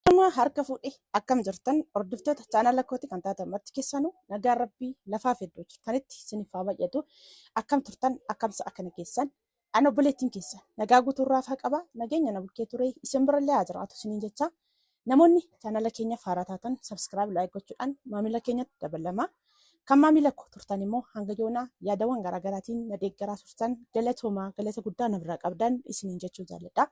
Namaa harka fuudhe akkam jirtan hordoftoota chaanala kooti kan taatan marti keessanuu nagaan rabbii lafaa fi iddoo jirtanitti isiniif haa baay'atu akkam turtan akkamsa akkana keessan an obboleettiin keessan nagaa guutuu irraa faa qaba nageenya na bulkee ture isin birallee haa jiraatu isiniin jecha namoonni chaanala keenya faaraa taatan sabskiraayib laayik gochuudhaan maamila keenyatti dabalama kan maamila koo turtan immoo hanga yoonaa yaadawwan garaagaraatiin na deeggaraa turtan galatoomaa galata guddaa na biraa qabdan isiniin jechuu jaalladha.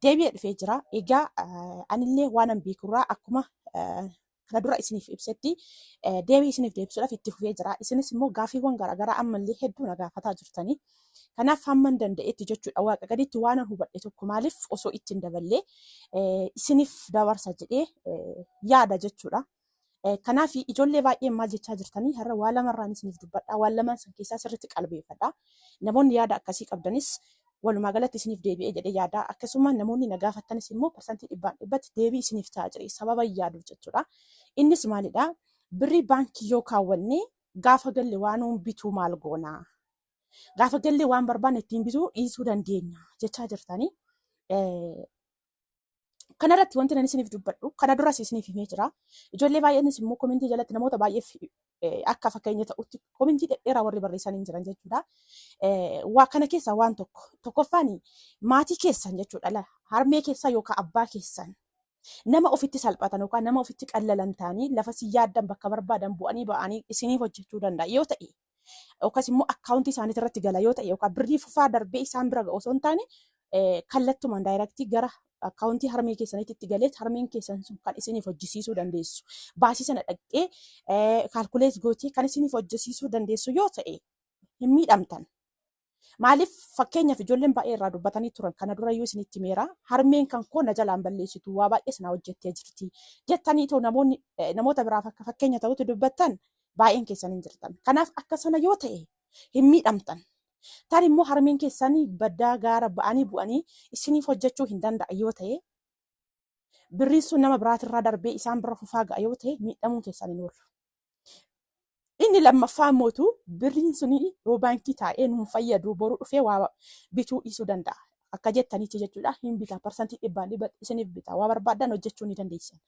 deebi'ee dhufee jira. Egaa eh, anillee waanan beekurraa akkuma eh, kana dura isiniif ibsetti eh, deebii isiniif deebisuudhaaf itti fufee jira. Isinis immoo gaaffiiwwan garaagaraa ammallee hedduu na gaafataa jirtanii. Kanaaf hamman danda'etti jechuudha waaqa gaditti waanan hubadhe tokko maaliif osoo itti hin daballee eh, isiniif dabarsa jedhee eh, yaada jechuudha. Eh, Kanaaf ijoollee baay'een maal jechaa jirtanii har'a waa lamarraan isiniif dubbadhaa waan lamaan san keessaa sirriitti qalbeeffadhaa. Namoonni yaada akkasii qabdanis walumaa galatti isiniif deebi'ee jedhee yaadaa akkasuma namoonni na gaafattanis immoo parsantii dhibbaan dhibbatti deebii isiniif ta'a jedhee sababa yaaduuf jechuudha. Innis maalidha? Birrii baankii yoo kaawwanne gaafa galle waan nuun bituu maal goona? Gaafa galle waan barbaanne ittiin bituu dhiisuu dandeenya jechaa jirtanii. Eh, Kanarratti wanti nan isiniif dubbadhu kana duras isiniif himee jira. Ijoollee baay'eenis immoo komentii jalatti namoota baay'eef eh, akka fakkeenya ta'utti komentii dhedheeraa warri barreessan hin jiran jechuudha. Eh, Waa kana keessaa waan tokko tokkoffaan maatii keessan jechuudha la- harmee keessan yookaan abbaa keessan nama ofitti salphatan yookaan nama ofitti qallalan ta'anii lafa si yaaddan bakka barbaadan bu'anii ba'anii isiniif hojjechuu danda'a yoo ta'e yookaas immoo akkaawuntii isaaniitti irratti gala yoo ta'e yookaan birrii fufaa darbee isaan bira ga'u osoo hin taane kallattumaan daayiraktii gara akkaawuntii harmee keessaniitti itti galee harmeen keessan sun kan isiniif hojjisiisuu dandeessu. Baasii sana dhaqxee kaalkulees gootee kan isiniif hojjisiisuu dandeessu yoo ta'e hin miidhamtan. Maaliif fakkeenyaaf ijoolleen baay'ee irraa dubbatanii turan kana dura yoo isinitti meera harmeen kan koo na jalaan balleessitu waa baay'ee sanaa hojjettee jirti jettanii too namoonni eh, namoota biraaf akka fakkeenya ta'utu dubbattan baay'een keessan hin jirtan. Kanaaf akka sana yoo ta'e hin miidhamtan. Tarii immoo harmeen keessan baddaa gaara ba'anii bu'anii isiniif hojjechuu hin danda'a yoo ta'e birriin sun nama biraatirraa darbee isaan bira fufaa ga'a yoo ta'e miidhamuun keessan hin oolu. Inni lammaffaa mootu birriin suni yoo baankii taa'ee nuun fayyadu boru dhufee waa bituu dhiisuu danda'a. Akka jettanitti jechuudha hin bita parsantii dhibbaan dhibba isiniif bita waa barbaadan hojjechuu ni dandeessan.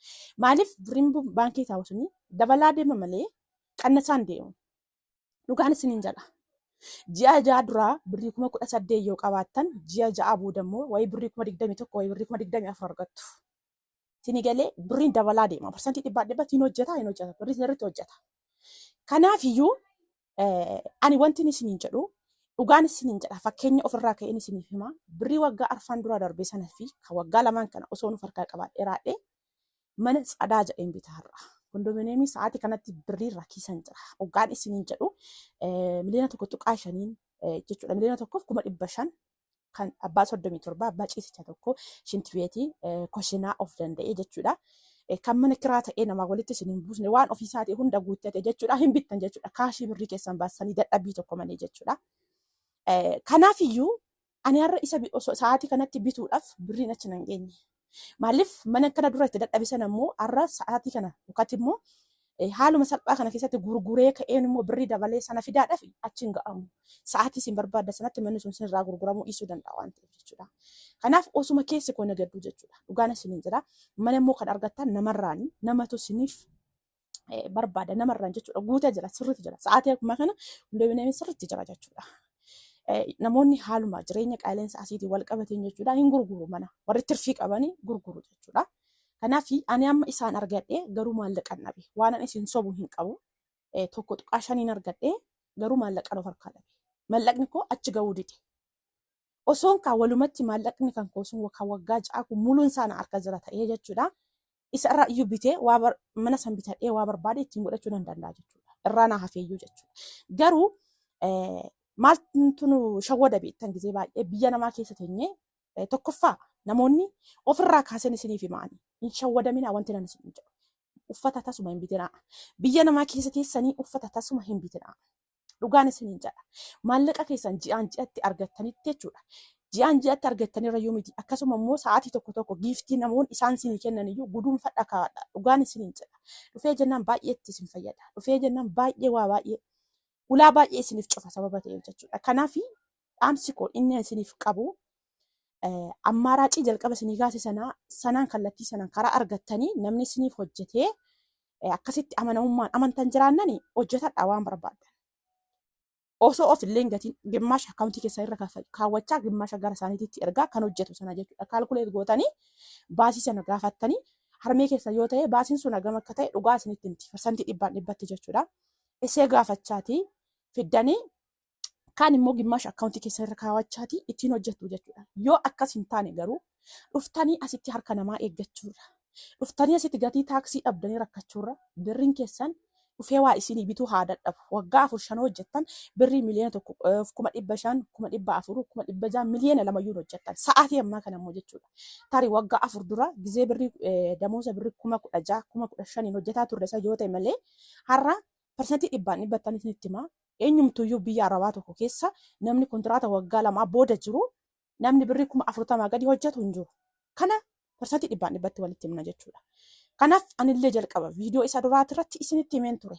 Maaliif birriin bu- baankii taa'u suni dabalaa deema malee qannasaan deemu. Dhugaan isiniin jedha. Ji'a ja'a duraa birrii kuma kudha saddeet yoo qabaattan ji'a ja'a booda immoo wayii birrii kuma digdamii tokko wayii birrii kuma digdamii afur argattu. Tini galee birriin dabalaa deema. Parsantii dhibbaa dhibbatti hin hojjetaa hin hojjeta. Birrii irratti hojjeta. Kanaaf iyyuu eh, ani wanti isiniin jedhu dhugaan isiniin jedha fakkeenya ofirraa ka'een isiniif hima. Birrii waggaa arfaan dura darbee sana fi kan waggaa lamaan kana osoo nuuf harkaa qabaadhee raadhee mana tsadaa jedheen bitaa har'a. Kondominiyeemii sa'aatii kanatti birrii rakkisan jira. Dhugaan isiniin jedhu eh, miliyoona tokko tuqaa shaniin eh, jechuudha. Miliyoona tokkoof kuma dhibba shan kan abbaa 37 abbaa ciisicha tokko shintibeetii koshinaa of danda'e jechuudha. Eh, Kan mana kiraa ta'ee namaa walitti isin hin buusne waan ofii isaatii hunda guuttate jechuudha hin bittan jechuudha kaashii birrii keessan baasanii dadhabbii tokko malee jechuudha. Eh, Kanaafiyyuu ani har'a isa bi- osoo sa'aatii kanatti bituudhaaf birriin achi nan geenye. Maaliif mana kana dura itti dadhabe sana immoo har'a sa'aatii kana yookaatti immoo eh, haaluma salphaa kana keessatti gurguree ka'een immoo birrii dabalee sana fidaadhaaf achi hin ga'amu. Sa'aatii isin barbaadda sanatti manni sun sinirraa gurguramuu dhiisuu danda'a waan ta'eef jechuudha. Kanaaf osuma keessi koo nagaddu jechuudha. Dhugaan isiniin jira. Mana immoo kan argattan namarraani. Namatu isiniif eh, barbaada namarraan jechuudha guutee jira sirriitti jira sa'aatii akkuma kana qindoomineen sirriitti jira jechuudha. Eh, Namoonni haaluma jireenya qaala'insa asiitii wal qabateen jechuudha hin gurguru mana warri tirfii qabanii gurguru jechuudha. Kanaaf ani amma isaan argadhe garuu maallaqan dhabe waan ani isin sobu hin qabu Eh, tokko tuqaa shaniin argadhe garuu maallaqan of harkaa dhabe maallaqni koo achi ga'uu dide. Osoon kaa walumatti maallaqni kan koo sun kan waggaa ja'a kun muluun isaa na harka jira ta'ee jechuudha. isa irraa iyyuu bitee waa bar- mana san bitadhee waa barbaade ittiin godhachuu nan danda'a jechuudha. Irraa naa hafeeyyuu jechuudha. Garuu eh, maaltu nu shawwada beektan gizee baay'ee biyya namaa keessa teenyee eh, tokkoffaa namoonni ofirraa kaaseen isiniif himaani. Hin shawwadaminaa wanti nan isin jedhu. Uffata tasuma hin bitinaa. Biyya namaa keessa teessanii uffata tasuma hin bitinaa. Dhugaan isiniin jedha. Maallaqa keessan ji'aan ji'atti argattanitti jechuudha. Ji'aan ji'atti argattanirra yoo miti akkasuma immoo sa'aatii tokko tokko giiftii namoonni isaan isinii kennan iyyuu guduunfadha kaa'adha. Dhugaan isiniin jedha. Dhufee jennaan baay'ee itti isin fayyada. Dhufee jennaan baay'ee waa baay'ee ulaa baay'ee isiniif cufa sababa ta'eef jechuudha. Kanaaf dhaamsi koo inni isiniif qabu ammaaraacii jalqaba isinii kaase sanaa sanaan kallattii sanaan karaa argattanii namni isiniif hojjetee akkasitti amanamummaan amantan jiraannani hojjetadha waan barbaaddan. Osoo of illee gatiin gimmaasha akkaawuntii keessan irra kaawwachaa gimmaasha gara isaaniitti ergaa kan hojjetu sana jechuudha. Kaalkuleet gootanii baasii sana gaafattanii harmee keessa yoo ta'e baasiin sun hagam akka ta'e dhugaa isinitti himti. Parsantii dhibbaan dhibbatti jechuudha. Isee gaafachaatii fiddanii kaan immoo gimmaasha akkaawuntii keessan irra kaawachaatii ittiin hojjettu jechuudha. Yoo akkas hin taane garuu dhuftanii asitti harka namaa eeggachuurra dhuftanii asitti gatii taaksii dhabdanii rakkachuurra birriin keessan dhufee waa isinii bituu haa dadhabu. Waggaa afur shan hojjettan birrii miliyoona tokko eh, kuma dhibba shan kuma dhibba afur kuma dhibba jaha miliyoona lamayyuu hojjettan sa'aatii ammaa kana immoo jechuudha. Tarii waggaa afur dura gizee birrii eh, damoosa birrii kuma kudha jaha kuma kudha shaniin hojjetaa turre isa yoo ta'e malee har'a parsantii dhibbaan dhibbattan isinitti himaa Eenyumtuuyyuu biyya Arabaa tokko keessa namni kontiraata waggaa lamaa booda jiru namni birrii kuma afurtamaa gadi hojjetu hin jiru. Kana parsantii dhibbaan dhibbatti walitti himna jechuudha. Kanaaf anillee jalqaba viidiyoo isa duraati irratti isinitti himeen ture.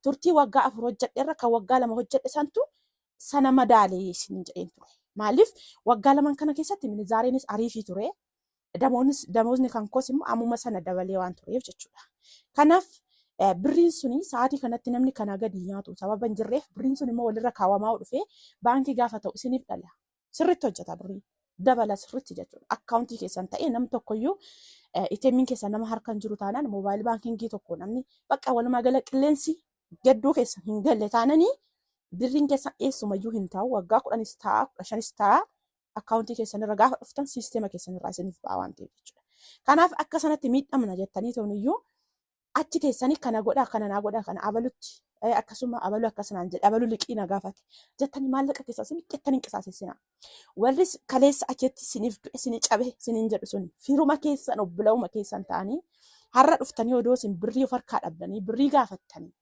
Turtii waggaa afur hojjedhe irra kan waggaa lama hojjedhe santu sana madaale isiniin jedheen ture. Maaliif waggaa laman kana keessatti minizaareenis ariifii ture. Damoonis- Damozni kan koos immoo ammuma sana dabalee waan tureef jechuudha. Kanaaf eh, birriin suni sa'aatii kanatti namni kanaa gadi hin nyaatu sababa hin jirreef birriin sun immoo walirra kaawwamaa dhufee baankii gaafa ta'u isiniif dhala. Sirriitti hojjeta birriin. Dabala sirriitti jechuudha. Akkaawuntii keessan ta'ee nam tokkoyyuu eh, ATM'n keessan nama harka hin jiru taanaan moobaayil baankingii tokko namni bakka walumaa gala qilleensi gadduu keessa hin galle taananii birriin keessa eessumayyuu hin taa'u waggaa kudhanis ta'a kudha shanis ta'a akkaawuntii keessan irra gaafa dhuftan siisteema keessan irraa isiniif ba'a waan ta'eef jechuudha. Kanaaf akka sanatti miidhamna jettanii toniyyuu achi teessanii kana godhaa kana naa godhaa kana abalutti eh, akkasuma abaluu akkasinaan jedhe abaluu liqii na gaafate jettanii maallaqa keessaa isin jettanii hin qisaasessinaa. Warri kaleessa achitti isiniif du'e isinii cabe isiniin jedhu sun firuma keessan obbolawuma keessan ta'anii har'a dhuftanii odoo isin birrii of harkaa dhabdanii birrii gaafattanii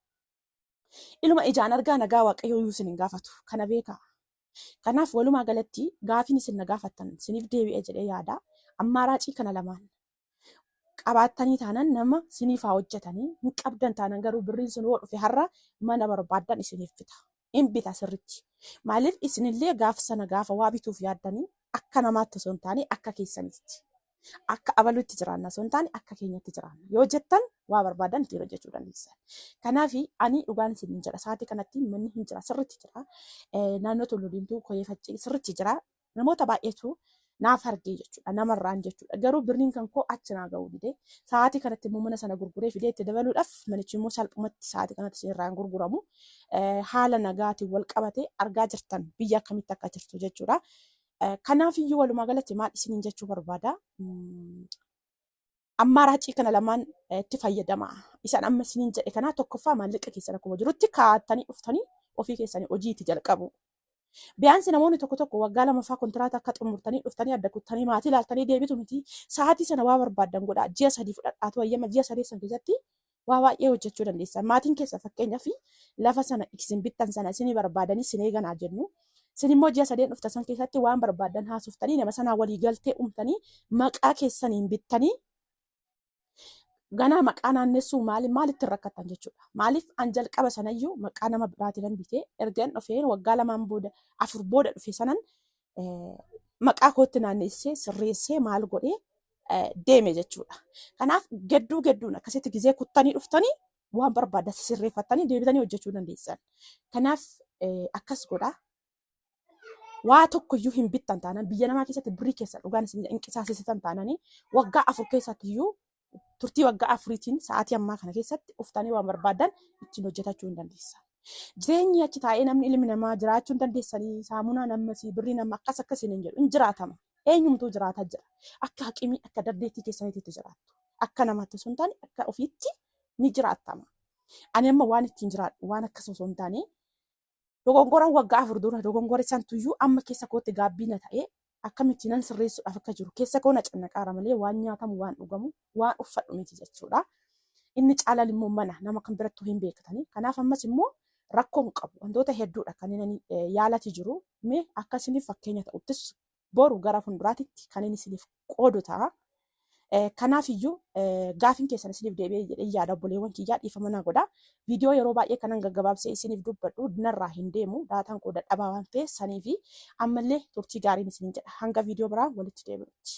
iluma ijaan argaa nagaa waaqayyoo iyyuu isin hin gaafatu kana beekaa. Kanaaf walumaa galatti gaafiin isin na gaafattan siniif deebi'e jedhee yaada. Ammaaraacii kana lamaan qabaattanii taanan nama siniif haa hojjetanii hin qabdan taanan garuu birriin sun yoo dhufe har'a mana barbaaddan isiniif bita. Hin bita sirritti. Maaliif isinillee gaafa sana gaafa waa bituuf yaaddanii akka namaatti osoo hin taane akka keessanitti. akka abalutti jiraanna osoo hin taane akka keenyatti jiraanna yoo jettan waa barbaadan ittiin hojjechuu dandeessan. Kanaaf ani dhugaan isin hin jedha sa'aatii kanatti manni hin jira sirritti jira Eh, naannoo Tulluu Diimtuu Koyee Faccee sirritti jira namoota baay'eetu naaf argee jechuudha namarraan jechuudha garuu birriin kan koo achi naa ga'uu dide sa'aatii kanatti immoo mana sana gurguree fidee itti dabaluudhaaf manichi immoo salphumatti sa'aatii kanatti isin irraa hin gurguramu Eh, haala nagaatiin wal qabatee argaa jirtan biyya akkamitti akka jirtu jechuudha. Kanaaf iyyuu walumaa galatti maal isiniin jechuu barbaada? Ammaa raacii kana lamaan itti fayyadama. Isaan amma isiniin jedhe kanaa tokkoffaa maallaqa keessan akkuma jirutti kaa'attanii dhuftanii ofii keessanii hojii itti jalqabu. Biyyaansi namoonni tokko tokko waggaa lamaffaa kontiraata akka xumurtanii dhuftanii adda kuttanii maatii ilaaltanii deebitu miti. Sa'aatii sana waa barbaaddan godhaa. Ji'a sadii fudhadhaatu hayyama ji'a sadii sana keessatti waa baay'ee hojjechuu dandeessan. Maatiin keessa fakkeenyaaf lafa sana isin bittan sana isin barbaadanii isin eeganaa jennu. Isin immoo ji'a sadeen dhufta san keessatti waan barbaadan haasoftanii nama sanaa walii galtee uumtanii maqaa keessaniin bittanii ganaa maqaa naannessuu maali maalitti hin rakkattan jechuudha. Maaliif an jalqaba sanayyuu maqaa nama biraatiin hin bitee ergan dhufeen waggaa lamaan booda afur booda dhufe sanan eh, maqaa kootti naannessee sirreessee maal godhee eh, deeme jechuudha. Kanaaf gadduu gadduun akkasitti gizee kuttanii dhuftanii waan barbaadan sirreeffattanii deebitanii hojjechuu dandeessan. Kanaaf eh, akkas godhaa. waa tokko iyyuu hin bittan taanaan biyya namaa keessatti birrii keessa dhugaan isin hin qisaasesitan taananii waggaa afur keessatti iyyuu turtii waggaa afuriitiin sa'aatii ammaa kana keessatti uftanii waan barbaadan ittiin hojjetachuu hin dandeessa. Jireenyi achi taa'ee namni ilmi namaa jiraachuu hin dandeessanii saamunaa namni birrii nama akkas akkasiin hin jedhu hin jiraatama. Eenyumtuu jiraata jira. Akka haqimii akka daddeettii keessaniititti jiraattu. Akka namaatti osoo hin taane akka ofiitti ni jiraattama. Ani amma waan ittiin jiraadhu waan akkas osoo hin taane dogongoran waggaa afur dura dogongore santuyyuu amma keessa kootti gaabbii na ta'ee akkamitti nan sirreessuudhaaf akka jiru keessa koo na cannaqaara malee waan nyaatamu waan dhugamu waan uffadhu miti jechuudha. Inni caalaan immoo mana nama kan birattuu hin beektani. Kanaaf ammas immoo rakkoo hin qabu. Wantoota hedduudha kan inni eh, yaalati jiru. Mee akka isiniif fakkeenya ta'uttis boru gara fuulduraatitti kan inni isiniif qoodu ta'a. Eh, Kanaaf iyyuu eh, gaafiin keessan isiniif deebi'ee jedhee yaada obboleewwan kiyyaa dhiifama naa godha. Video yeroo baay'ee kanan gaggabaabsee isiniif dubbadhu narraa hin deemu daataan koo dadhabaa waan ta'eef sanii fi ammallee turtii gaariin isiniin jedha hanga video biraa walitti deebinutti.